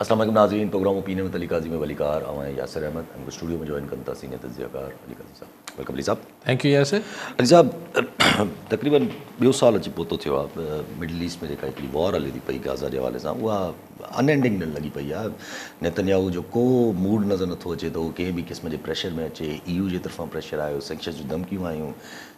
السلام عليڪم ناظرين programme opinion with Ali Qazi ۾ Ali Qahar اوهان ياسر احمد هن وقت اسٽوڊيو ۾ جوائن ڪن ٿا سينئر تجزيه ڪار علي قاضي صاحب ويلڪم علي صاحب ٿينڪ يو ياسر علي صاحب تقريبن ٻيو سال اچي پهتو ٿيو آهي مڊل ايسٽ ۾ جيڪا هڪڙي وار هلي ٿي پئي غازا جي حوالي سان اها ان اينڊنگ ڏيڻ لڳي پئي آهي نيتنياهو جو ڪو موڊ نظر نٿو اچي ته هو ڪنهن به قسم جي پريشر ۾ اچي اي يو جي طرفان پريشر آيو سينڪشنز جون ڌمڪيون آيون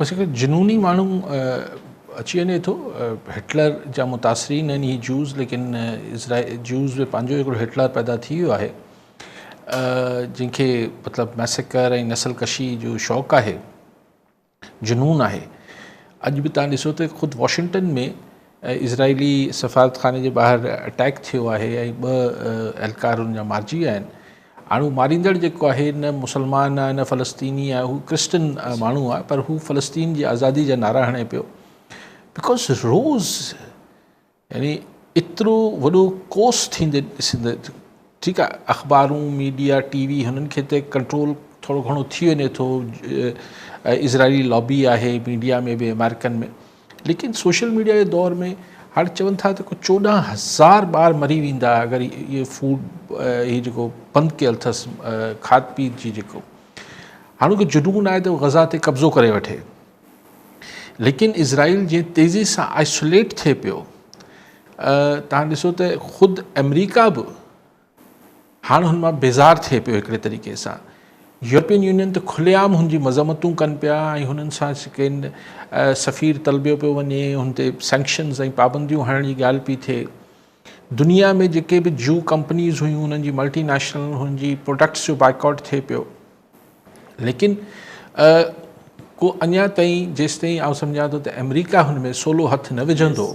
بس هڪ جنوني ماڻهو اچي وڃي ٿو هٽلر جا متاثرين آهن هي جوز ليڪن جوز به پنهنجو هڪڙو هٽلر پيدا ٿي ويو آهي جن کي مطلب ميسڪر ۽ نسل ڪشي جو شوق آهي جنون آهي اڄ به تان ڏسو ته خود واشنگٽن ۾ اسرائيلي سفارتخاني جي ٻاهر اٽيڪ ٿيو آهي ۽ ٻه اهلڪار ان جا مارجي ويا آهن هاڻي ماريندڙ جيڪو آهي نه مسلمان آهي نه فلسطيني آهي هو ڪرسچن ماڻهو آهي پر هو فلسطين جي آزادي جا نعرا هڻي پيو بڪوز روز يعني ايترو وڏو ڪوس ٿيندي ڏسندي ٺيڪ آهي اخبارون، ميڊيا، ٽي وي هنن کي ته ڪنٽرول ٿورو گهڻو ٿي وڃي ٿو اسرائيلي لابي آهي ميڊيا ۾ به امريڪن ۾ ليڪن سوشل ميڊيا جي دور ۾ هاڻي چون ٿا ته ڪو چوڏهن هزار ٻار مري ويندا اگر اهي فوڊ هي جيڪو بند ڪيل اٿس کاڌ پيت جي جيڪو هاڻوڪي جنون آهي ته غزا تي قبضو ڪري وٺي ليڪن اسرائيل جيئن تيزي سان آئسوليٽ ٿئي پيو توهان ڏسو ته خود آمريڪا به هاڻ هن مان بيزار ٿئي پيو هڪڙي طريقي سان يورپين يونين ته کلي عام هن جي مذمتون ڪن پيا ۽ هنن سان ڪن سفير طلبيو پيو وڃي هن تي سينڪشنز ۽ پابنديون هڻڻ جي ڳالهه پي ٿئي دنيا ۾ جيڪي به جيو ڪمپنيز هيون هنن جي ملٽي نيشنل هن جي پروڊڪٽس جو بائڪاٽ ٿئي پيو ليڪن ڪو اڃا تائين جيستائين آئون سمجهان ٿو ته آمريڪا هن ۾ سولو هٿ نه وجهندو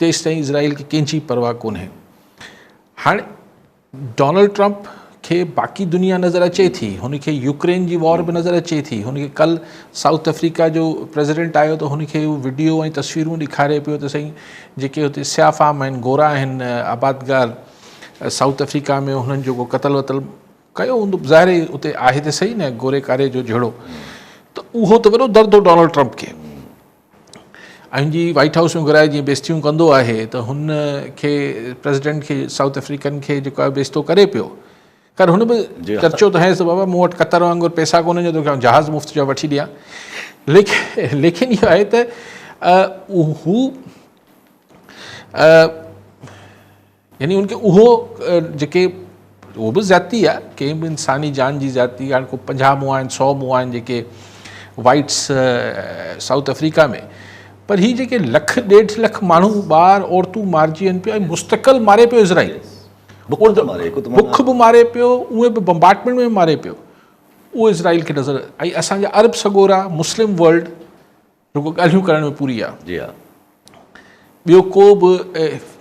تيستائين اسرائيل کي ڪنهن جي پرواهه ڪونهي هاڻي ڊونلڊ ٽرمپ کي باقي دنيا نظر اچي ٿي هن کي يوڪرين جي وار به نظر اچي ٿي هن کي کل سائوٿ افريقا جو پريزيڊنٽ آيو ته هن کي ويڊيو ۽ تصويرون ڏيکاري پيو ته سائين جيڪي هتي سياح فام آهن گورا آهن آبادگار سائوٿ افريقا ۾ هنن جو ڪو قتل وتل ڪيو هوندو ظاهر هي اتي آهي ته سهي نه گوري ڪاري جو جهيڙو ته اهو ته وڏو درد هو ڊونلڊ ٽرمپ کي ۽ جي وائيٽ هائوس ۾ گهرائي جيئن بيستيون ڪندو آهي ته هن کي پريزيڊنٽ کي سائوٿ افريڪن کي جيڪو آهي بيستو ڪري پيو خير هن به چرچو ته هيس ته بابا مون وٽ قطر وانگر پيسا ڪونهن جو توکي جهاز مفت جو وٺي ڏيان ليکن ليکن اهو آهي ته هو يعني ان کي اهو جيڪي اهو به زيادتي آهي ڪنهن به انساني جان جي زيادتي هاڻ ڪو پنجاهه مون آهن سو مون آهن جيڪي وائٽس سائوٿ افريقا ۾ پر هي جيڪي لک ڏيڍ لک ماڻهو ٻار عورتون مارجي وڃن پيا مستقل ماري پيو اسرائيل بک به ماري پيو اهي به بمبارٽمنٽ ۾ ماري پيو اهو اسرائيل کي نظر ۽ اسانجا عرب سڳورا مسلم ورلڊ رڳو ڳالهيون ڪرڻ ۾ پوري آ. جي ها. ٻيو ڪو به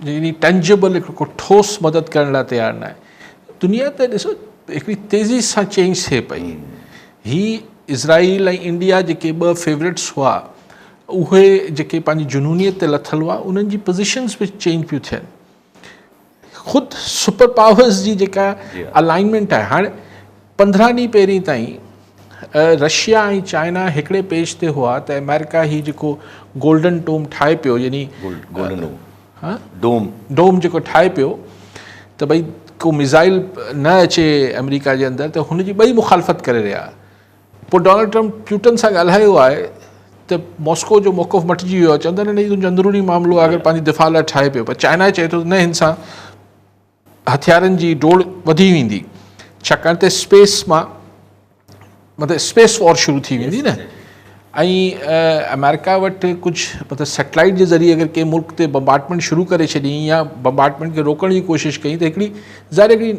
يعني ٽنجبل هڪ ٺوس مدد ڪرڻ لاء تيار ناهي. دنيا ته ڏسو هڪڙي تيزي سان چينج ٿئي پئي. هي اسرائيل ۽ انڊيا جيڪي ٻه فيورٽس هئا اهي جيڪي پنهنجي جنونيت تي لٿل هئا انهن جي پوزيشنز به چينج پيون ٿين. خود سپر پاورز جي جيڪا الائنمينٽ آهي هاڻي پندرهن ڏينهن پهرين تائين رشيا ۽ چائنا هڪڙي پيج تي هئا ته امريڪا هي جيڪو گولڊن ٽوم ٺاهي پيو يعني ڊوم جيڪو ٺاهي پيو ته ڀئي ڪو ميزائل نه اچي امريڪا جي اندر ته هن جي ٻئي مخالفت ڪري رهيا پوء ڊونلڊ ٽرمپ پيوٽن سان ڳالهايو آهي ته ماسڪو جو موقف مٽجي ويو آهي، چون ٿا نه نه هي تنهنجو اندروني معاملو آهي اگر پنهنجي دفاع لاء ٺاهي پيو پر چائنا چئي ٿو ته نه هن سان هٿيارن جي ڊوڙ وڌي ويندي ڇاڪاڻ ته اسپيس مان مطلب اسپيس وار شروع ٿي ويندي نه ۽ آمريڪا وٽ ڪجهه مطلب سيٽلائيٽ جي ذريعي اگر ڪنهن ملڪ تي بمبارڊمينٽ شروع ڪري ڇڏيائين يا بمبارڊمينٽ کي روڪڻ جي ڪوشش ڪيائين ته هڪڙي ظاهر هڪڙي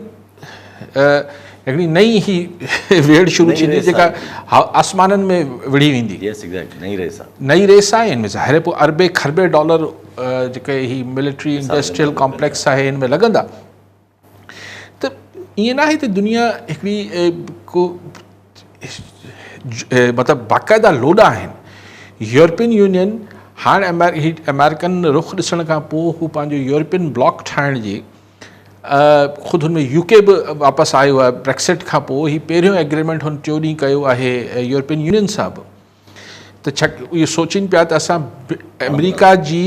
هڪڙي نئين هي ويڙهه شروع ٿيندي جيڪا آسمانن ۾ وڙهي ويندي. Yes exactly نئين ريس آ. نئين ريس آ ان ۾ ظاهر پوء اربين کربين ڊالر جيڪي هي ملٽري انڊسٽريل ڪامپليڪس آهي ان ۾ لڳندا ته ائين ناهي ته دنيا هڪڙي ڪو مطلب باقاعده لوڏا آهن يورپين يونين هاڻ امريڪن رخ ڏسڻ کان پوء هو پنهنجو يورپين بلاڪ ٺاهڻ جي خود هن ۾ يو ڪي به واپس آيو آهي بريڪسٽ کان پوء هي پهريون ايگريمينٽ هن ٽيون ڏينهن ڪيو آهي يورپين يونين سان به ته ڇا اهو سوچين پيا ته اسان آمريڪا جي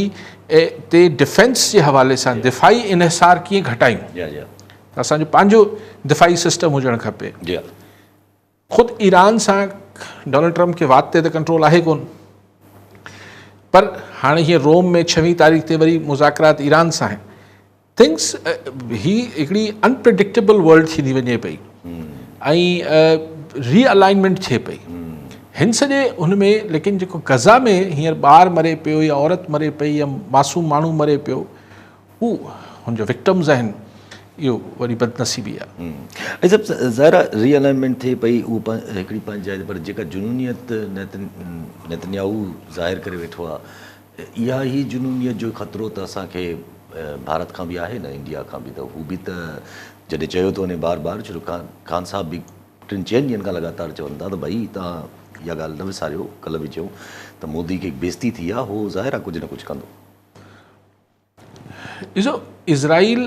تي ڊفينس جي حوالي سان دفاعي انحصار ڪيئن گهٽايون اسانجو پنهنجو دفاعي سسٽم هجڻ کپي خود ايران سان ڊونلڊ ٽرمپ کي وات تي ته ڪنٽرول آهي ڪون پر هاڻي هيئن روم ۾ ڇوين تاريخ تي وري مذاڪرات ايران سان آهن ٿنگس هي هڪڙي انپريڊڪٽيبل ورلڊ ٿيندي وڃي پئي ۽ ري الائنمينٽ ٿئي پئي هن سڄي هن ۾ ليڪن جيڪو غزا ۾ هينئر ٻار مري پيو يا عورت مري پئي يا معصوم ماڻهو مري پيو هو هن جو وڪٽمز آهن اهو وڏي بدنصيبي آهي. ايسب ظاهر آهي ري الائنمينٽ ٿئي پئي اهو هڪڙي پنهنجي جاء تي پر جيڪا جنونيت نيتنياهو ظاهر ڪري ويٺو آهي اها هي جنونيت جو خطرو ته اسان کي ڀارت کان به آهي نه انڊيا کان به ته هو به ته جڏهن چيو ٿو وڃي بار بار چلو خان صاحب به ٽن چئن ڏينهن کان لڳاتار چون ٿا ته ڀئي تان اها ڳالهه نه وساريو ڪلهه به چيو ته مودي کي بيزتي ٿي آهي هو ظاهر آهي ڪجهه نه ڪجهه ڪندو. ڏسو اسرائيل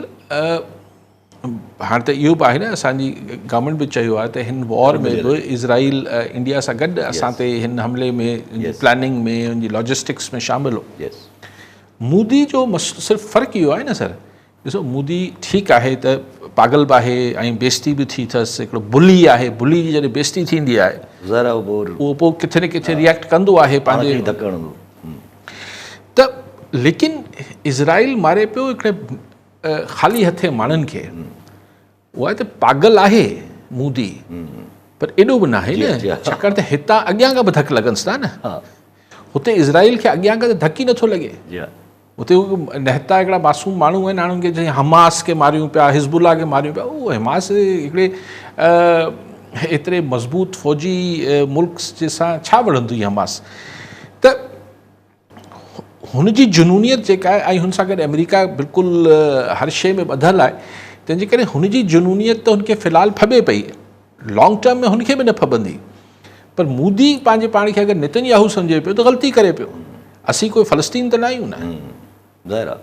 هاڻي ته اهو به آهي نه اسان جي گورنمنٽ به چيو آهي ته هن وار ۾ به اسرائيل انڊيا سان گڏ اسان تي هن حملي ۾ پلاننگ ۾ ان جي لاجسٽڪس ۾ شامل هو مودي جو صرف فرق اهو آهي نه سر ڏسو مودي ٺيڪ آهي ته پاگل به آهي ۽ بيستي به ٿي اٿس هڪڙو بلي آهي بلي جي جڏهن بيستي ٿيندي آهي اهو پوء ڪٿي نه ڪٿي ريئيڪٽ ڪندو آهي پنهنجي ته ليڪن اسرائيل ماري پيو هڪڙي خالي هٿين ماڻهن کي اها ته پاگل آهي مودي پر ايڏو به ناهي نه ڇاڪاڻ ته هتان اڳيان کان به ڌڪ لڳنس ٿا نه هتي اسرائيل کي اڳيان کان ته ڌڪ ئي نٿو لڳي اتي نهتا هڪڙا معصوم ماڻهو آهن هاڻ ان کي جيئن حماس کي ماريون پيا حزب الله کي ماريون پيا اهو حماس هڪڙي ايتري مضبوط فوجي ملڪ سان ڇا وڙهندي حماس ته هن جي جنونيت جيڪا آهي ۽ هن سان گڏ آمريڪا بلڪل هر شيء ۾ ٻڌل آهي تنهن جي ڪري هن جي جنونيت ته هن کي في الحال ڦٻي پئي لانگ ٽرم ۾ هن کي به نه ڦٻندي پر مودي پنهنجي پاڻ کي اگر نتن ياهو سمجهي پيو ته غلطي ڪري پيو اسين ڪوئي فلسطين ته نه آهيون نه ظاهر آهي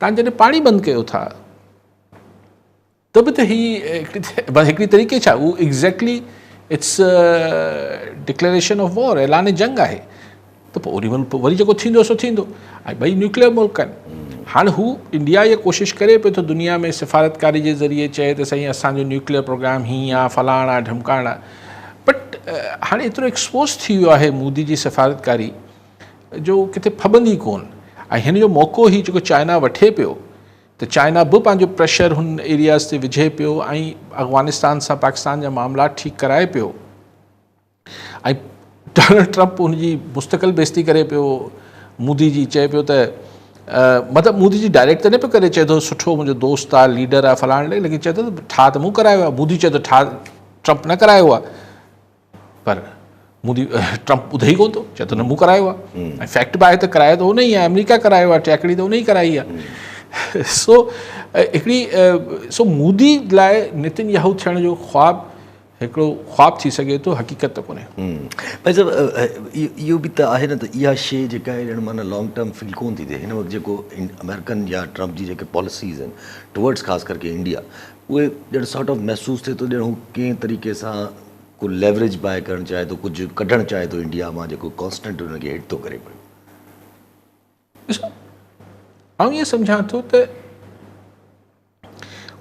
توهان جڏهن پاڻي بند ڪيو ٿا ته به ته هي هڪڙي طريقي ڇا هو exactly it's declaration of war اعلان جنگ آهي ته پوء اوري ملڪ وري جيڪو ٿيندو سو ٿيندو ۽ ٻئي نيوڪليئر ملڪ آهن هاڻي هو انڊيا اها ڪوشش ڪري پيو ٿو دنيا ۾ سفارتڪاري جي ذريعي چئي ته سائين اسانجو نيوڪليئر پروگرام هي آ فلاڻ آ ڍمڪاڻ آ بٽ هاڻي ايترو ايڪسپوز ٿي ويو آهي مودي جي سفارتڪاري جو ڪٿي ڦٻندي ڪون ۽ هن جو موقعو هي جيڪو چائنا وٺي پيو ته چائنا به پنهنجو پريشر هن ايرياز تي وجهي پيو ۽ افغانستان سان پاڪستان جا معاملا ٺيڪ ڪرائي پيو ۽ ڊونلڊ ٽرمپ ان جي مستقل بيستي ڪري پيو مودي جي چئي پيو ته مطلب مودي جي ڊائريڪٽ ته نه پيو ڪري چئي ٿو سٺو منهنجو دوست آ ليڊر آ فلاڻ ليڪن چئي ٿو ٺاهه ته مون ڪرايو آ مودي چئي ٿو ٺاهه ٽرمپ نه ڪرايو آ پر مودي ٽرمپ ٻڌي ئي ڪونه ٿو چئي ٿو نه مون ڪرايو آهي ۽ فيڪٽ به آهي ته ڪرايو ته ان ئي آهي آمريڪا ڪرايو آهي ٽيڪڙي ته ان ئي ڪرائي آهي سو هڪڙي سو مودي لاء نتن ياهو ٿيڻ جو خواب هڪڙو خواب ٿي سگهي ٿو حقيقت ته ڪونهي بھي صاحب اهو به ته آهي نه ته اها شي جيڪا آهي ڄڻ معنيٰ لانگ ٽرم فيل ڪونه ٿي ٿئي هن وقت جيڪو آمريڪن يا ٽرمپ جي جيڪي پاليسيز آهن ٽوورڊس خاص ڪرڪي انڊيا اهي ڄڻ سارٽ آف محسوس ٿئي ٿو ڄڻ هو ڪنهن طريقي سان ڪو ليوريج بائي ڪرڻ چاهي ٿو ڪجهه ڪڍڻ چاهي ٿو انڊيا مان جيڪو ڪانسٽنٽ ان کي هٽ ٿو ڪري پيو ڏسو آئون ائين سمجهان ٿو ته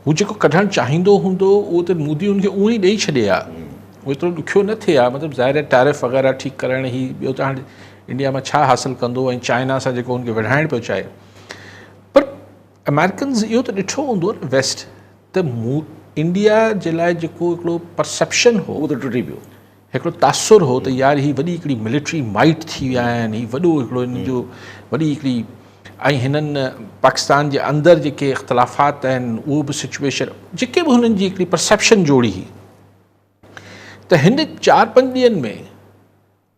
هو جيڪو ڪڍڻ چاهيندو هوندو اهو ته مودي ان کي اهو ئي ڏئي ڇڏي ها اهو ايترو ڏکيو نه ٿئي ها مطلب ظاهر آهي ٽيرف وغيره ٺيڪ ڪرائڻ هي ٻيو ته هاڻي انڊيا مان ڇا حاصل ڪندو ۽ چائنا سان جيڪو هن کي وڙهائڻ پيو چاهي پر امريڪنز اهو ته ڏٺو هوندو ويسٽ ته مون انڊيا جي لاء جيڪو هڪڙو پرسيپشن هو اهو ته ٽٽي پيو هڪڙو تاثر هو ته يار هي وڏي هڪڙي ملٽري مائيٽ ٿي ويا آهن هي وڏو هڪڙو هن جو وڏي هڪڙي ۽ هنن پاڪستان جي اندر جيڪي اختلافات آهن اهو به سچويشن جيڪي به هنن جي هڪڙي پرسيپشن جوڙي هئي ته هن چار پنج ڏينهن ۾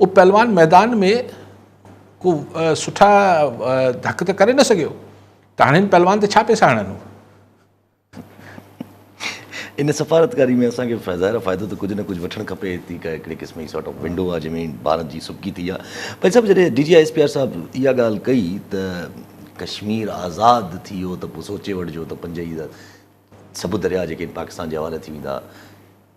اهو پهلوان ميدان ۾ ڪو سٺا ڌڪ ته ڪري نه سگهيو ته هاڻي هن پهلوان تي ڇا پيسا هڻن هو. ان سفارتڪاري ۾ اسان کي ظاهر فائدو ته ڪجهه نه ڪجهه وٺڻ کپي ٿي ڪا هڪڙي قسم جي سارٽ آف ونڊو آهي جنهن ۾ ڀارت جي سبڪي ٿي آهي ڀائي صاحب جڏهن D G I S P R صاحب اها ڳالهه ڪئي ته ڪشمير آزاد ٿي ويو ته پوء سوچي وٺجو ته پنج هي سڀ درياء جيڪي پاڪستان جي حوالي ٿي ويندا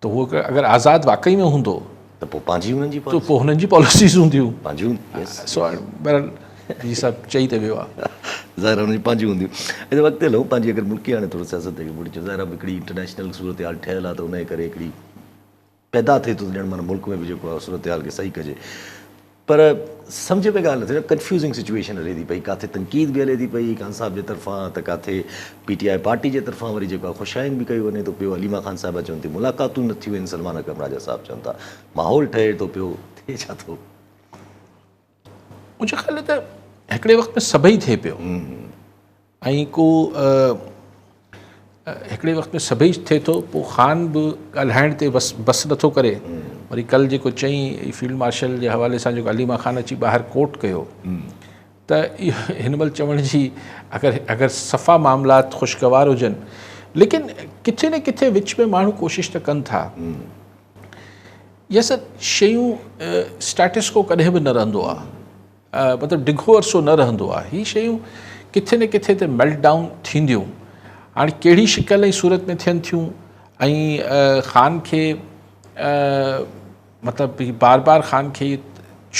ته هو اگر آزاد واقعي ۾ هوندو ته پوء پنهنجي هنن جي پاليسيون پوء هنن جي پاليسيز هونديون پنهنجيون سو بهرحال هي سڀ چئي ته ويو آهي ظاهر آهي هنن جي پنهنجيون هونديون اچا اڳتي هلون پنهنجي اگر ملڪي هاڻي ٿورو سياست تي مڙي اچون ظاهر آهي هڪڙي انٽرنيشنل صورتحال ٺهيل آهي ته انهي ڪري هڪڙي پيدا ٿئي ٿو ته ڄڻ معنيٰ ملڪ ۾ به جيڪو آهي صورتحال کي صحيح ڪجي پر سمجهه ۾ ڳالهه نه ٿي ڪنفيوزنگ سچوئيشن هلي ٿي پئي ڪاٿي تنقيد به هلي ٿي پئي خان صاحب جي طرفان ته ڪاٿي پي ٽي آء پارٽي جي طرفان وري جيڪو آهي خوشائين به ڪيو وڃي ٿو پيو عليما خان صاحبه چون ٿيون ملاقاتون نه ٿيون آهن سلمان اڪرم راجا صاحب چون ٿا ماحول ٺهي ٿو پيو ٿئي ڇا ٿو منهنجي خيال ۾ ته هڪڙي وقت ۾ سڀئي ٿئي پيو ائين ڪو هڪڙي وقت ۾ سڀئي ٿئي ٿو پوء خان به ڳالهائڻ تي بس بس نٿو ڪري وري ڪل جيڪو چئي فيلڊ مارشل جي حوالي سان جيڪو عليما خان اچي ٻاهر ڪوٽ ڪيو ته هن مهل چوڻ جي اگر اگر صفا معاملات خوشگوار هجن ليڪن ڪٿي نه ڪٿي وچ ۾ ماڻهو ڪوشش ته ڪن ٿا يس شيون اسٽاٽسڪو ڪڏهن به نه رهندو آهي مطلب ڊگهو عرصو نه رهندو آهي هي شيون ڪٿي نه ڪٿي تي ميلٽ ڊائون ٿينديون هاڻي ڪهڙي شڪل ۽ صورت ۾ ٿين ٿيون ۽ خان کي مطلب هي بار بار خان کي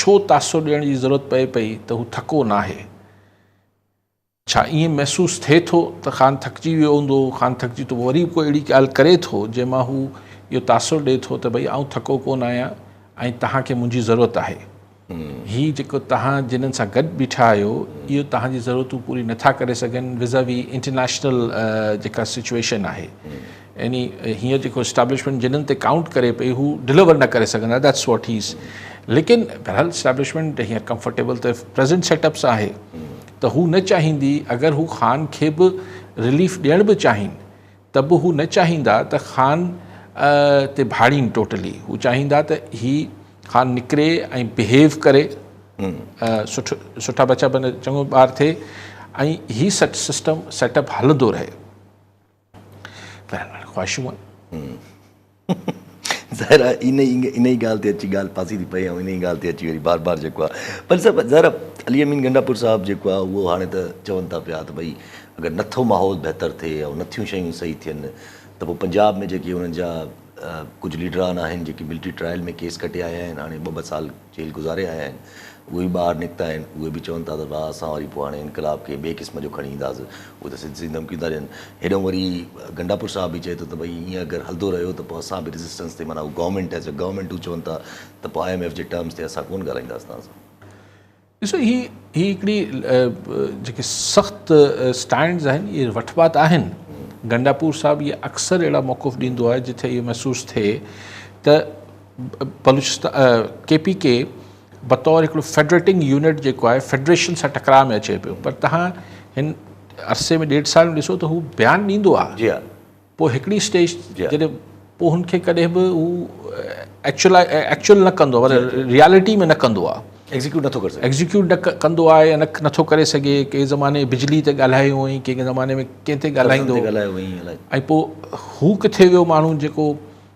ڇو تاثر ڏيڻ جي ضرورت پئي پئي ته هو ٿڪو ناهي ڇا ائين محسوس ٿئي ٿو ته خان ٿڪجي ويو هوندو؟ خان ٿڪجي ته پوء وري به ڪو اهڙي ڳالهه ڪري ٿو، جنهن مان هو اهو تاثر ڏئي ٿو ته ڀئي آئون ٿڪو ڪونه آهيان ۽ توهان کي منهنجي ضرورت آهي. هي جيڪو توهان جنن سان گڏ بيٺا آهيو، اهي توهان جي ضرورتون پوري نه ٿا ڪري سگهن ويز آ وي انٽرنيشنل جيڪا سچوئيشن آهي. يعني هينئر جيڪو اسٽيبلشمينٽ جنن تي ڪائونٽ ڪري پئي، هو ڊليور نه ڪري سگهندا ديٽس واٽ هي از. ليڪن بهرحال اسٽيبلشمينٽ هينئر ڪمفرٽيبل ته پريزنٽ سيٽ اپ سان آهي. ته هو نه چاهيندي اگر هو خان کي به رليف ڏيڻ به چاهين ته به هو نه چاهيندا ته خان تي ڀاڙين ٽوٽلي هو چاهيندا ته هي خان نڪري ۽ بهيو ڪري سٺ سٺا بچا بن چڱو ٻار ٿئي ۽ هي سٽ سسٽم سيٽ اپ هلندو رهي. بهرحال خواهشون آهن. ظاهر آهي ان ان ئي ڳالهه تي اچي ڳالهه ڦاسي ٿي پئي ۽ ان ئي ڳالهه تي اچي وري بار بار جيڪو آهي پر صاحب ظاهر آهي علي امين گنڊاپور صاحب جيڪو آهي اهو هاڻي ته چون ٿا پيا ته ڀئي اگر نٿو ماحول بهتر ٿئي يا نٿيون شيون صحيح ٿين ته پوء پنجاب ۾ جيڪي انهن جا ڪجهه ليڊران آهن جيڪي ملٽري ٽرائل ۾ ڪيس ڪٽي آيا آهن هاڻي ٻه ٻه سال جيل گذاري آيا آهن اهي به ٻاهر نڪتا آهن اهي به چون ٿا ته ڀاء اسان وري پوء هاڻي انقلاب کي ٻئي قسم جو کڻي اينداس اهي ته سڌ سڌيون ڌمڪيون ٿا ڏين هيڏهون وري گنڊاپور صاحب به چئي ٿو ته ڀئي ائين اگر هلندو رهيو ته پوء اسان به ريزسٽنس تي معنيٰ هو گورنمينٽ ايز اي گورنمينٽ هو چون ٿا ته پوء آء ايم ايف جي ٽرمز تي اسان ڪونه ڳالهائينداس توهان سان. ڏسو هي هي هڪڙي جيڪي سخت اسٽينڊز آهن اهي وٺبا ته آهن گنڊاپور صاحب اهي اڪثر اهڙا موقف ڏيندو آهي جتي اهو محسوس ٿئي ته بلوچستان ڪي پي ڪي بطور هڪڙو فيڊريٽنگ يونٽ جيڪو آهي فيڊريشن سان ٽڪراء ۾ اچي پيو پر تهان هن عرصي ۾ ڏيڍ سال ۾ ڏسو ته هو بيان ڏيندو آهي جي پوء هڪڙي اسٽيج جڏهن پوء هن کي ڪڏهن به هو ايڪچوئل ايڪچوئل نه ڪندو آهي ريالٽي ۾ نه ڪندو آهي ايگزيڪيوٽ نٿو ڪري سگهي ايگزيڪيوٽ نه ڪندو آهي نه نٿو ڪري سگهي ڪي زماني بجلي تي ڳالهايو هئائين ڪي زماني ۾ ڪنهن تي ڳالهائيندو ڳالهايو هئائين ۽ پوء هو ڪٿي ويو ماڻهو جيڪو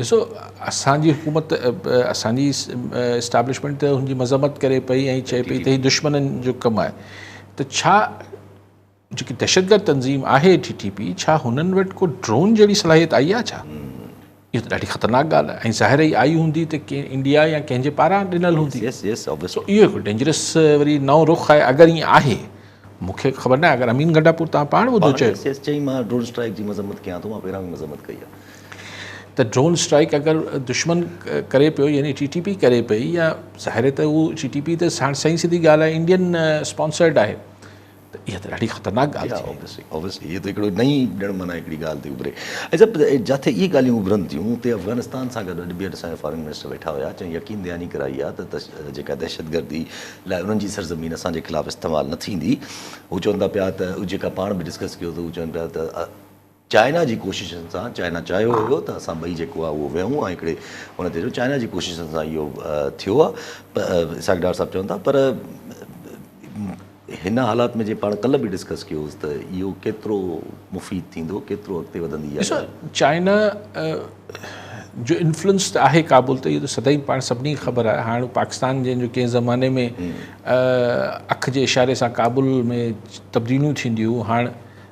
ڏسو اسان جي حڪومت اسان جي اسٽيبلشمينٽ ته هن جي مذمت ڪري پئي ۽ چئي پئي ته هي دشمنن جو ڪم آهي ته ڇا جيڪي دهشتگرد تنظيم آهي ٽي ٽي پي ڇا هنن وٽ ڪو ڊرون جهڙي صلاحيت آئي آهي ڇا اهو ته ڏاڍي خطرناڪ ڳالهه آهي ۽ ظاهر ئي آئي هوندي ته ڪنهن انڊيا يا ڪنهن جي پاران ڏنل هوندي سو اهو هڪ ڊينجرس وري نئون رخ آهي اگر ائين آهي مونکي خبر نه آهي اگر امين گنڊاپور تان پاڻ ٻڌو چيو چيئي مان ڊرون اسٽرائيڪ جي مذمت ڪيان ٿو مان پهريان به مذمت ڪئي آهي ته ڊرون اسٽرائيڪ اگر دشمن ڪري پيو يعني ٽي ٽي پي ڪري پئي يا ظاهر ته هو ٽي ٽي پي ته ساڻ سائين سڌي ڳالهه آهي انڊين اسپانسرڊ آهي ته اها ته ڏاڍي خطرناڪ ڳالهه ٿي ويندي اوبيسلي هي ته هڪڙو نئين ڄڻ معنيٰ هڪڙي ڳالهه ٿي اڀري عجب جاٿي اهي ڳالهيون اڀرن ٿيون اتي افغانستان سان گڏ اڄ ٻيهر اسان جا فارن منسٽر ويٺا هيا چون يقين دهاني ڪرائي آهي ته جيڪا دهشتگردي لاء انهن جي سرزمين اسان جي خلاف استعمال نه ٿيندي هو چون ٿا پيا ته جيڪا پاڻ به ڊسڪس ڪيو ته هو چون پيا ته چائنا جي ڪوششن سان چائنا چاهيو هيو ته اسان ٻئي جيڪو آهي اهو ويهون ۽ هڪڙي ان تي جو چائنا جي ڪوششن سان اهو ٿيو آهي اسحاق ڊار صاحب چون ٿا پر هن حالات ۾ جي پاڻ ڪلهه به ڊسڪس ڪيو هوس ته اهو ڪيترو مفيد ٿيندو ڪيترو اڳتي وڌندي اها ڳالهه چائنا جو انفلوئنس ته آهي ڪابل تي اهو ته سدائين پاڻ سڀني کي خبر آهي هاڻ پاڪستان جن جو ڪنهن زماني ۾ اک جي اشاري سان ڪابل ۾ تبديليون ٿينديون هاڻ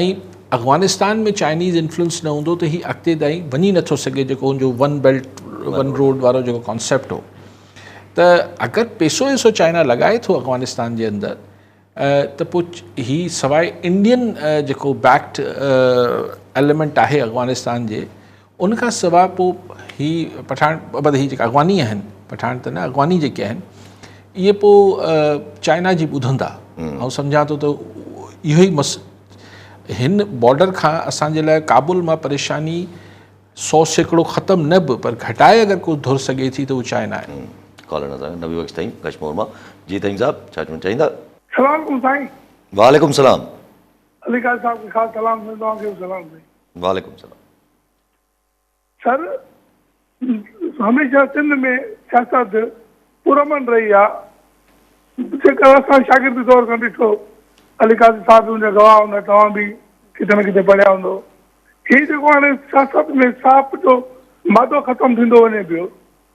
۽ افغانستان ۾ چائنيز انفلوئنس نه هوندو ته هي اڳتي تائين وڃي نٿو سگهي جيڪو هن جو ون بيلٽ ون روڊ وارو جيڪو ڪانسيپٽ هو ته اگر پيسو ويسو چائنا لڳائي ٿو افغانستان جي اندر ته پوء هي سواء انڊين جيڪو بيڪٽ ايليمنٽ آهي افغانستان جي ان کان سواء پوء هي پٺاڻ ابد هي جيڪي اغواني آهن پٺاڻ ته نه اغواني جيڪي آهن اهي پوء چائنا جي ٻڌن ٿا آئون سمجهان ٿو ته اهو ئي مس هن بارڊر کان اسان جي لاء ڪابل مان پريشاني سو سيڪڙو ختم نه به پر گهٽائي اگر ڪو ڌر سگهي ٿي ته اهو چائنا آهي ڪالر نظر نبي بخش ٿئي ڪشمور مان جي ٿئيم صاحب ڇا چوڻ چاهيندا. سلام عليڪم سائين. وعليڪم سلام. علي قائد صاحب کي خاص سلام سائين توهان کي به سلام سائين. وعليڪم سلام. سر هميشه سنڌ ۾ سياست پرامن رهي آ جيڪر اسان شاگرد دور کان ڏٺو علي قاضي صاحب به ان جا گواهه هوندا توهان به ڪٿي نه ڪٿي پڙهيا هوندو هي جيڪو هاڻي سياست ۾ ساپ جو مادو ختم ٿيندو وڃي پيو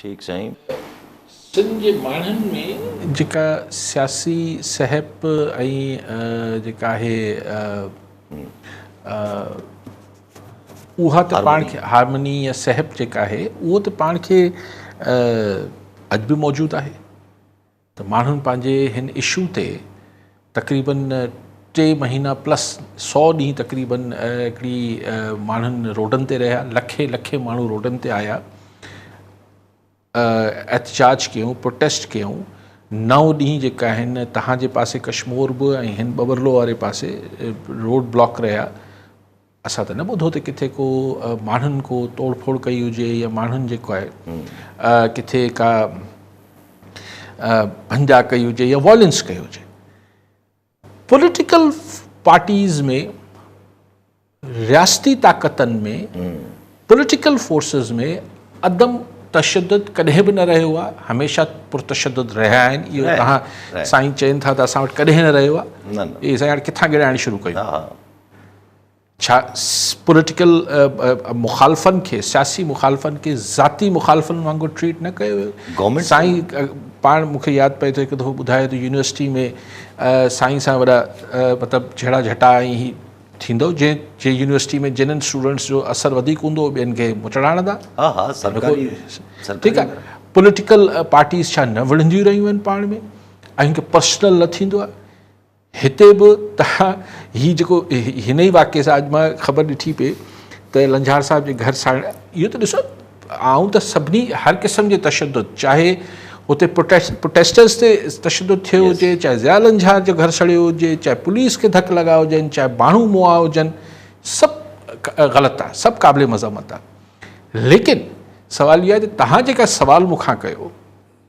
ٺيڪ سائين. سنڌ جي ماڻهن ۾ جيڪا سياسي سهپ ۽ جيڪا آهي اها ته پاڻ کي هارمني يا سهپ جيڪا آهي اهو ته پاڻ کي اڄ به موجود آهي. ته ماڻهن پنهنجي هن اشو تي تقريبن ٽي مهينا پلس سؤ ڏينهن تقريبن هڪڙي ماڻهن روڊن تي رهيا لکين لکين ماڻهو روڊن تي آيا احتجاج ڪيون پروٽيسٽ ڪيون نو ڏينهن جيڪا آهن تهان جي پاسي ڪشمور به ۽ هن ٻٻرلو واري پاسي روڊ بلاڪ رهيا اسان ته نه ٻڌو ته ڪٿي ڪو ماڻهن ڪو توڙ ڦوڙ ڪئي هجي يا ماڻهن جيڪو آهي ڪٿي ڪا ڀنجا ڪئي هجي يا وائلنس ڪئي هجي پوليٽيڪل پارٽيز ۾ رياستي طاقتن ۾ پوليٽيڪل فورسز ۾ عدم تشدد ڪڏهن به نه رهيو آهي هميشه پرتشد رهيا آهن اهو توهان سائين چين ٿا ته اسان وٽ ڪڏهن نه رهيو آهي سائين هاڻي ڪٿان گڙائڻ شروع ڪيو ڇا پوليٽيڪل مخالفن کي سياسي مخالفن کي ذاتي مخالفن وانگر ٽريٽ نه ڪيو ويو گورنمنٽ سائين پاڻ مون کي ياد پئي ٿو هڪ دفعو ٻڌايو ته يونيورسٽي ۾ سائين سان وڏا مطلب جھيڙا جھٽا ۽ هي ٿيندو جنهن جي يونيورسٽي ۾ جنن اسٽوڊنٽس جو اثر وڌيڪ هوندو ٻين کي مچڙا هڻندا ها ها سرڪاري ٺيڪ آهي پوليٽيڪل پارٽيز ڇا نه وڙهنديون رهيون آهن پاڻ ۾ ۽ هڪ پرسنل نه ٿيندو آهي هتي به تهان هي جيڪو هن ئي واقعي سان اڄ مان خبر ڏٺي پئي ته لنجهار صاحب جي گهر ساڻ اهو ته ڏسو آئون ته سڀني هر قسم جي تشدد چاهي اتي پروٽيسٽرز تي تشدد ٿيو هجي چاهي ضياء لنجهار جو گهر سڙيو هجي چاهي پوليس کي ڌڪ لڳا هجن چاهي ماڻهو موئا هجن سڀ غلط آهي سڀ قابل مذمت آهي ليڪن سوال اهو آهي ته تهان جيڪا سوال مون کان ڪيو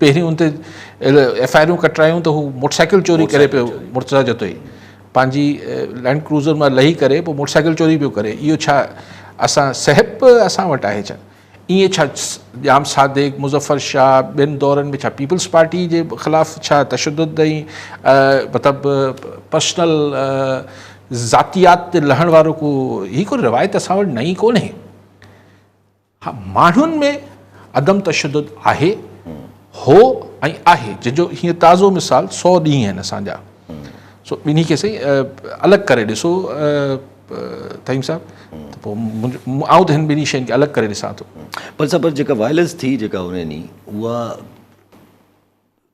پهرين ان تي ايف آء آرون ڪٽرايون ته هو موٽر سائيڪل چوري ڪري پيو مرتضيٰ جتوئي پنهنجي لينڊ ڪروزر مان لهي ڪري پوء موٽر سائيڪل چوري پيو ڪري اهو ڇا اسان سهپ اسان وٽ آهي ڇا ائين ڇا ڄام صادق مظفر شاهه ٻين دورن ۾ ڇا پيپلز پارٽي جي خلاف ڇا تشدد ۽ مطلب پرسنل ذاتيات تي لهڻ وارو ڪو هي ڪو روايت اسان وٽ نئين ڪونهي ها ماڻهن ۾ عدم تشدد آهي، هو ۽ آهي جنهن جو هينئر تازو مثال سؤ ڏينهن آهن اسان جا سو ٻنهي کي سائين الڳ ڪري ڏسو طهيم صاحب ته پوء آئون ته هن ٻنهي شين کي الڳ ڪري ڏسان ٿو. پر صاحب جيڪا وائلنس ٿي جيڪا هن ڏينهن اها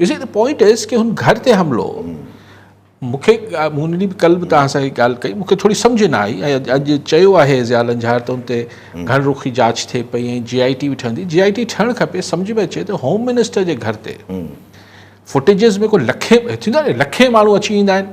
you see the point is ڪي هن گهر تي حملو مون کي مون ڏينهن به ڪل به توهان سان هي ڳالهه ڪئي مون کي ٿوري سمجهه نه آئي ۽ اڄ چيو آهي ضياء لنجهار ته ان تي گهڻ رخي جاچ ٿئي پئي ۽ جي آئي ٽي به ٺهندي جي آئي ٽي ٺهڻ کپي سمجهه ۾ اچي ته هوم منسٽر جي گهر تي فوٽيجز ۾ ڪو لکين ٿيندو آهي لکين ماڻهو اچي ويندا آهن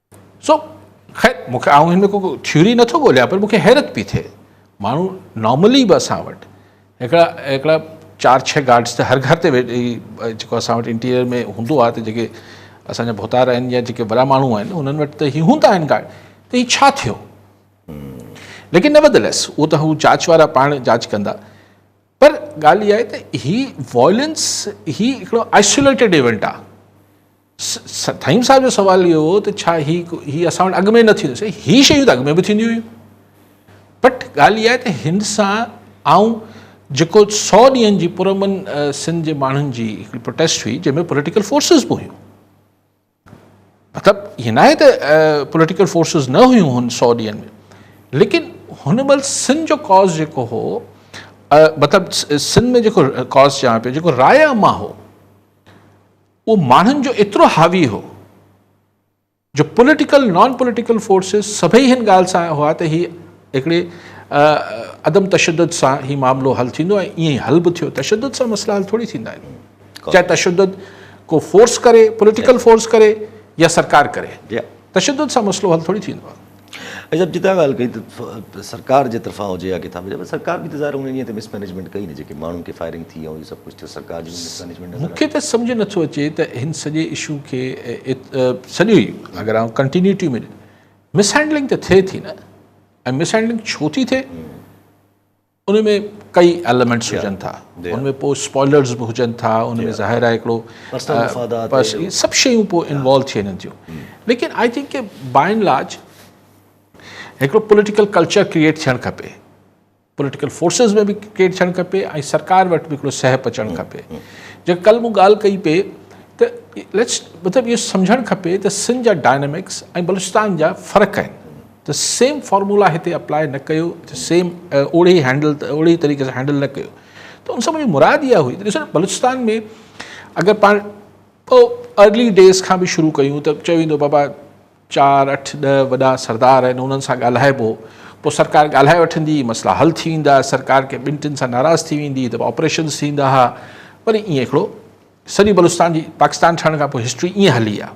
سو خير مون کي آئون هن ۾ ڪو ٿيوري نه ٿو ڳوليان پر مون کي حيرت پئي ٿئي ماڻهو نارملي به اسان وٽ هڪڙا هڪڙا چار ڇهه گارڊس ته هر گهر تي جيڪو اسان وٽ انٽيريئر ۾ هوندو آهي ته جيڪي اسان جا ڀوتار آهن يا جيڪي وڏا ماڻهو آهن انهن وٽ ته هي هوندا آهن گارڊ ته هي ڇا ٿيو ليڪن نه بدلس اهو ته هو جاچ وارا پاڻ جاچ ڪندا پر ڳالهه اها آهي ته هي وائلنس هي هڪڙو آئسوليٽيڊ ايونٽ آهي ٿهيم صاحب جو سوال اهو هو ته ڇا هي هي اسان وٽ اڳ ۾ نه ٿيندو سائين هي شيون ته اڳ ۾ به ٿينديون هيون بٽ ڳالهه اها آهي ته هن سان آئون جيڪو سو ڏينهن جي پرامن سنڌ جي ماڻهن جي هڪڙي پروٽيسٽ هئي جنهن ۾ پوليٽيڪل فورسز به هيون مطلب هي ناهي ته پوليٽيڪل فورسز نه هيون هن سو ڏينهن ۾ ليڪن هن مهل سنڌ جو ڪاز جيڪو هو مطلب سنڌ ۾ جيڪو ڪاز چيان پيو جيڪو رايا مان هو اهو ماڻهن جو ايترو حاوي هو جو پوليٽيڪل نان پوليٽيڪل فورسز سڀئي هن ڳالهه سان هئا ته هي هڪڙي عدم تشدد سان هي معاملو حل ٿيندو ۽ ائين حل به ٿيو تشدد سان مسئلا حل ٿوري ٿيندا آهن چاهي تشدد ڪو فورس ڪري پوليٽيڪل فورس ڪري يا سرڪار ڪري تشدد سان مسئلو حل ٿوري ٿيندو آهي اياز صاحب جتان ڳالهه ڪئي ته سرڪار جي طرفان هجي يا ڪٿان به سرڪار به ته ظاهر ان ڏينهن تي مس مئنيجمينٽ ڪئي نه جيڪي ماڻهن کي فائرنگ ٿي ۽ اهو سڀ ڪجهه ته سرڪار جي مس مئنيجمينٽ نظر آئي مون کي ته سمجهه نه ٿو اچي ته هن سڄي اشو کي سڄو ئي اگر آئون ڪنٽينيوٽي ۾ مس هينڊلنگ ته ٿئي ٿي نه ۽ مس هينڊلنگ ڇو ٿي ٿئي ان ۾ ڪئي ايلمينٽس هجن ٿا ان ۾ پوء اسپوائلرز به هجن ٿا ان ۾ ظاهر آهي هڪڙو سڀ شيون پوء انوالو ٿي وڃن ٿيون ليڪن آئي ٿنڪ ڪي باء اينڊ لارج هڪڙو پوليٽيڪل ڪلچر ڪريئيٽ ٿيڻ کپي پوليٽيڪل فورسز ۾ به ڪريئيٽ ٿيڻ کپي ۽ سرڪار وٽ به هڪڙو سهپ اچڻ کپي جي ڪل مون ڳالهه ڪئي پئي ته ليٽس مطلب اهو سمجهڻ کپي ته سنڌ جا ڊائنامڪس ۽ بلوچستان جا فرق آهن ته سيم فارمولا هتي اپلائي نه ڪيو ته سيم اوڙي هينڊل ته اوڙي طريقي سان هينڊل نه ڪيو ته ان سان منهنجي مراد اها هئي ته ڏسو بلوچستان ۾ اگر پاڻ ٻه ارلي ڊيز کان به شروع ڪيون ته چيو ويندو بابا چار اٺ ڏه وڏا سردار آهن انهن سان ڳالهائبو پوء سرڪار ڳالهائي وٺندي مسئلا حل ٿي ويندا سرڪار کي ٻن ٽن سان ناراض ٿي ويندي ته آپريشنس ٿيندا ها وري ائين هڪڙو سڄي بلوچستان جي پاڪستان ٺهڻ کان پوء هسٽري ائين هلي آهي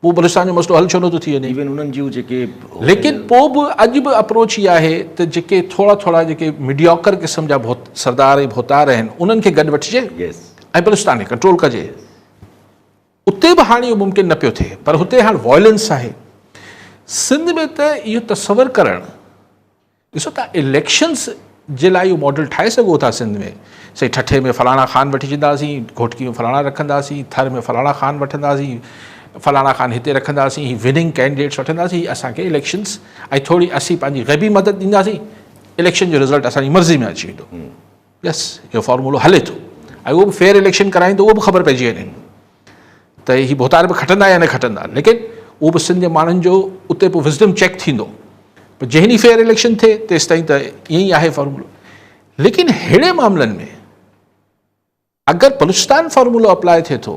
پوء بلوچستان جو مسئلو حل ڇو نٿو ٿي وڃي؟ ليڪن پوء به اڄ به اپروچ اها آهي ته جيڪي ٿورا ٿورا جيڪي مڊياڪر قسم جا سردار ۽ ڀوتار آهن انهن کي گڏ وٺجي ۽ بلوچستان کي ڪنٽرول ڪجي. اتي به هاڻي اهو ممڪن نه پيو ٿئي پر هتي هاڻ وائلنس آهي. سنڌ ۾ ته اهو تصور ڪرڻ. ڏسو تان اليڪشنس جي لاء اهو ماڊل ٺاهي سگهو ٿا سنڌ ۾ سائين ٺٺي ۾ فلاڻا خان وٺي ڇڏنداسين گهوٽڪي ۾ فلاڻا رکنداسين ٿر ۾ فلاڻا خان وٺنداسين فلاڻا خان هتي رکنداسين هي وننگ ڪينڊيڊيٽس وٺنداسين هي اسانکي اليڪشنس ۽ ٿوري اسين پنهنجي غيبي مدد ڏينداسين اليڪشن جو رزلٽ اسانجي مرضي ۾ اچي ويندو يس اهو فارمولو هلي ٿو ۽ اهو به فيئر اليڪشن ڪرائين ته اهو به خبر پئجي وڃي ته هي ڀوتار به کٽندا يا نه کٽندا ليڪن اهو به سنڌ جي ماڻهن جو اتي پوء وزڊم چيڪ ٿيندو پر جنهن ڏينهن فيئر اليڪشن ٿئي تيستائين ته ائين ئي آهي فارمولو ليڪن ههڙي معاملن ۾ اگر بلوچستان فارمولو اپلاء ٿئي ٿو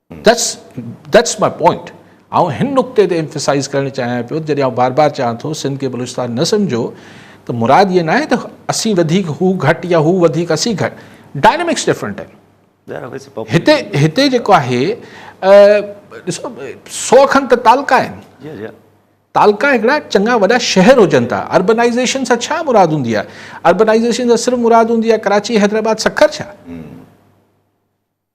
That's That's my point آئون هن نقطي تي Emphasize ڪرڻ چاهيان پيو ته جڏهن آئون بار بار چوان ٿو سنڌ کي بلوچستان نه سمجهو ته مراد هيء ناهي ته اسين وڌيڪ هو گهٽ يا هو وڌيڪ اسين گهٽ Dynamics Different آهن هتي هتي جيڪو آهي ڏسو سؤ کن ته تعلقا آهن تعلقا هڪڙا چڱا وڏا شهر هجن ٿا Urbanization سان ڇا مراد هوندي آهي Urbanization سان صرف مراد هوندي آهي ڪراچي حيدرآباد سکر ڇا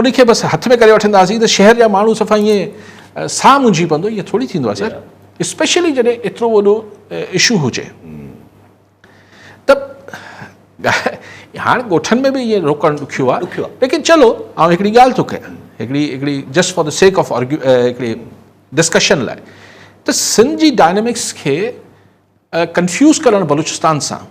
ان کي بس هٿ ۾ ڪري وٺنداسين ته شهر جا ماڻهو صفا ائين ساهه منجهي پوندو ائين ٿوري ٿيندو آهي سر اسپيشلي جڏهن ايترو وڏو اشو هجي ته هاڻ ڳوٺن ۾ به ائين روڪڻ ڏکيو آهي ليڪن چلو آئون هڪڙي ڳالهه ٿو ڪيان هڪڙي هڪڙي just for the sake of argue هڪڙي ڊسڪشن لاء ته سنڌ جي ڊائنامڪس کي ڪنفيوز ڪرڻ بلوچستان سان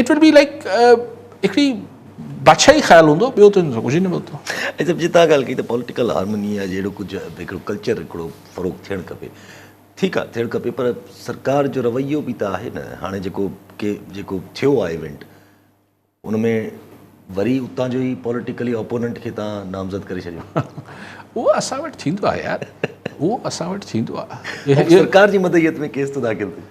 It would be like هڪڙي بادشاهي خيال هوندو ٻيو ته ڪجهه ئي نه ملندو. ۽ سڀ جي تان ڳالهه ڪئي ته پوليٽيڪل هارموني يا جهڙو ڪجهه هڪڙو ڪلچر هڪڙو فروغ ٿيڻ کپي ٺيڪ آهي ٿيڻ کپي پر سرڪار جو رويو به ته آهي نه هاڻي جيڪو ڪي جيڪو ٿيو آهي ايونٽ ان ۾ وري اتان جو ئي پوليٽيڪلي اپوننٽ کي تان نامزد ڪري ڇڏيو اهو اسان وٽ ٿيندو آهي يار اهو اسان وٽ ٿيندو آهي سرڪار جي مدعيت ۾ ڪيس ته داخل ٿي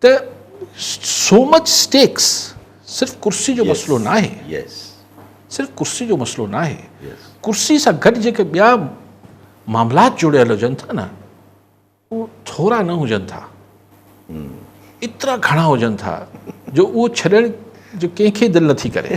ته سو مچ اسٽيڪس صرف ڪرسي جو مسئلو ناهي صرف ڪرسي جو مسئلو ناهي ڪرسي سان گڏ جيڪي ٻيا معاملات جڙيل هجن ٿا نه اهو ٿورا نه هجن ٿا ايترا گهڻا هجن ٿا جو اهو ڇڏڻ جو ڪنهن کي دل نٿي ڪري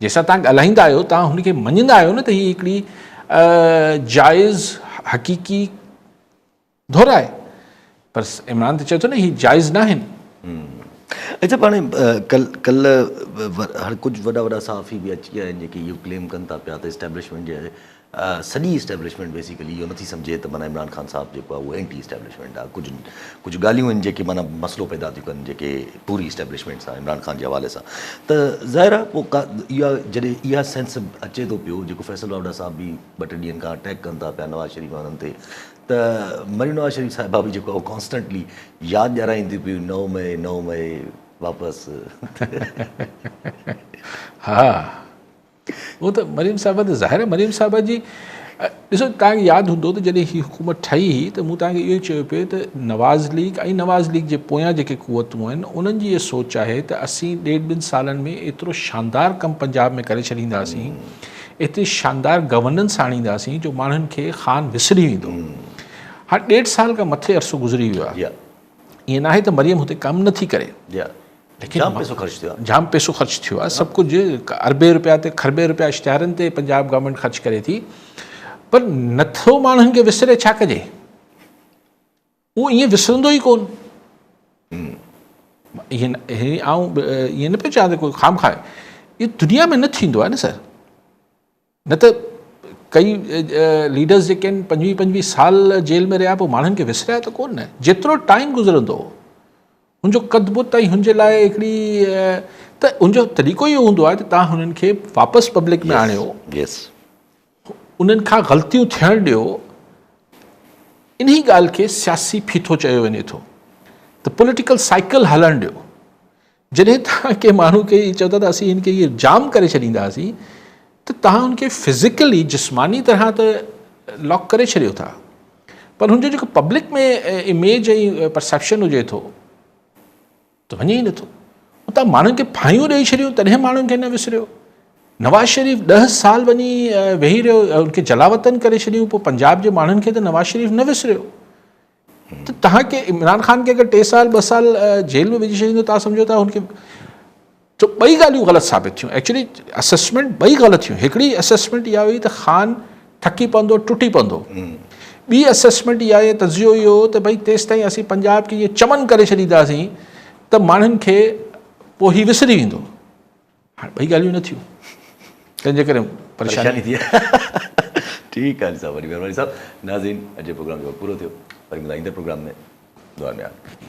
جنهن سان توهان ڳالهائيندا آهيو، توهان هن کي مڃيندا آهيو نه ته هي هڪڙي جائز حقيقي ڌر آهي. پر عمران ته چئي ٿو نه هي جائز ناهن. اچا پاڻ ڪلهه هر ڪجهه وڏا وڏا صحافي به اچي ويا آهن جيڪي اهو ڪليم ڪن ٿا پيا ته اسٽيبلشمينٽ جي سڄي اسٽيبلشمينٽ بيسيڪلي اهو نٿي سمجهي ته معنيٰ عمران خان صاحب جيڪو آهي اهو اينٽي اسٽيبلشمينٽ آهي ڪجهه ڪجهه ڳالهيون آهن جيڪي معنيٰ مسئلو پيدا ٿيون ڪن جيڪي پوري اسٽيبلشمينٽ سان عمران خان جي حوالي سان ته ظاهر آهي پوء ڪا اها جڏهن اها سينس اچي ٿو پيو جيڪو فيصل واوڊا صاحب به ٻه ٽي ڏينهن کان اٽيڪ ڪن ٿا پيا نواز شريف ۽ انهن تي ته مريم نواز شريف صاحبه به جيڪو آهي ڪانسٽنٽلي ياد ڏيارائين ٿي پيون نو مئي نو مئي واپس ها هو ته مريم صاحبه ته ظاهر آهي مريم صاحبه جي ڏسو توهان کي ياد هوندو ته جڏهن هي حڪومت ٺهي هئي ته مون توهان کي اهو ئي چيو پئي ته نواز ليگ ۽ نواز ليگ جي پويان جيڪي قوتون آهن انهن جي اها سوچ آهي ته اسين ڏيڍ ٻن سالن ۾ ايترو شاندار ڪم پنجاب ۾ ڪري ڇڏينداسين ايتري شاندار گورننس آڻينداسين جو ماڻهن کي خان وسري ويندو هاڻ ڏيڍ سال کان مٿي عرصو گذري ويو آهي ائين ناهي ته مريم هتي ڪم نٿي ڪري جام پئسو خرچ ٿيو آهي. جام پئسو خرچ ٿيو آهي سڀ ڪجهه اربين رپيا تي کربين رپيا اشتهارن تي پنجاب گورنمينٽ خرچ ڪري ٿي پر نٿو ماڻهن کي وسري ڇا ڪجي اهو ائين وسرندو ئي ڪون ائين آئون ائين نه پيو چوان ته ڪو خام خواهه اهو دنيا ۾ نه ٿيندو آهي نه سر نه ته ڪئي ليڊرز جيڪي آهن پنجويهه پنجويهه سال جيل ۾ رهيا پوء ماڻهن کي وسريا ته ڪو نه جيترو ٽائيم گذرندو هو هن جو قد بت ۽ هن جي لاء هڪڙي ته ان جو طريقو اهو هوندو آهي ته تان هنن کي واپس پبلڪ ۾ آڻيو انهن کان غلطيون ٿيڻ ڏيو انهي ڳالهه کي سياسي ڦيٿو چيو وڃي ٿو ته پوليٽيڪل سائيڪل هلڻ ڏيو جڏهن توهان ڪنهن ماڻهو کي چئو ٿا ته اسين هن کي اهو جام ڪري ڇڏينداسين ته توهان هن کي فزيڪلي جسماني طرح ته لاڪ ڪري ڇڏيو ٿا پر هن جو جيڪو پبلڪ ۾ اميج ۽ پرسيپشن هجي ٿو ته وڃي ئي نٿو اتان ماڻهن کي ڦاهيون ڏيئي ڇڏيون تڏهن ماڻهن کي نه وسريو نواز شريف ڏه سال وڃي ويهي رهيو ان کي جلاوطن ڪري ڇڏيون پوء پنجاب جي ماڻهن کي ته نواز شريف نه وسريو ته تهان کي عمران خان کي اگر ٽي سال ٻه سال جيل ۾ وجهي ڇڏيندو تهان سمجهو ٿا هن کي تو ٻئي ڳالهيون غلط ثابت ٿيون ايڪچولي اسسمنٽ ٻئي غلط ٿيون هڪڙي اسسمنٽ اها هئي ته خان ٿڪي پوندو ٽٽي پوندو ٻي اسسمنٽ اها هئي تجزيو اهو هو ته ڀائی تيستائين اسين پنجاب کي ائين چمن ڪري ڇڏينداسين ته ماڻهن کي پوء هي وسري ويندو هاڻي ٻئي ڳالهيون نه ٿيون تنهن جي ڪري پريشاني ٿي ٺيڪ آهي صاحب وڏي مهرباني صاحب ناظرين اڄ جو پروگرام جو پورو ٿيو وري ملان ايندڙ پروگرام ۾ دعا ۾ آمين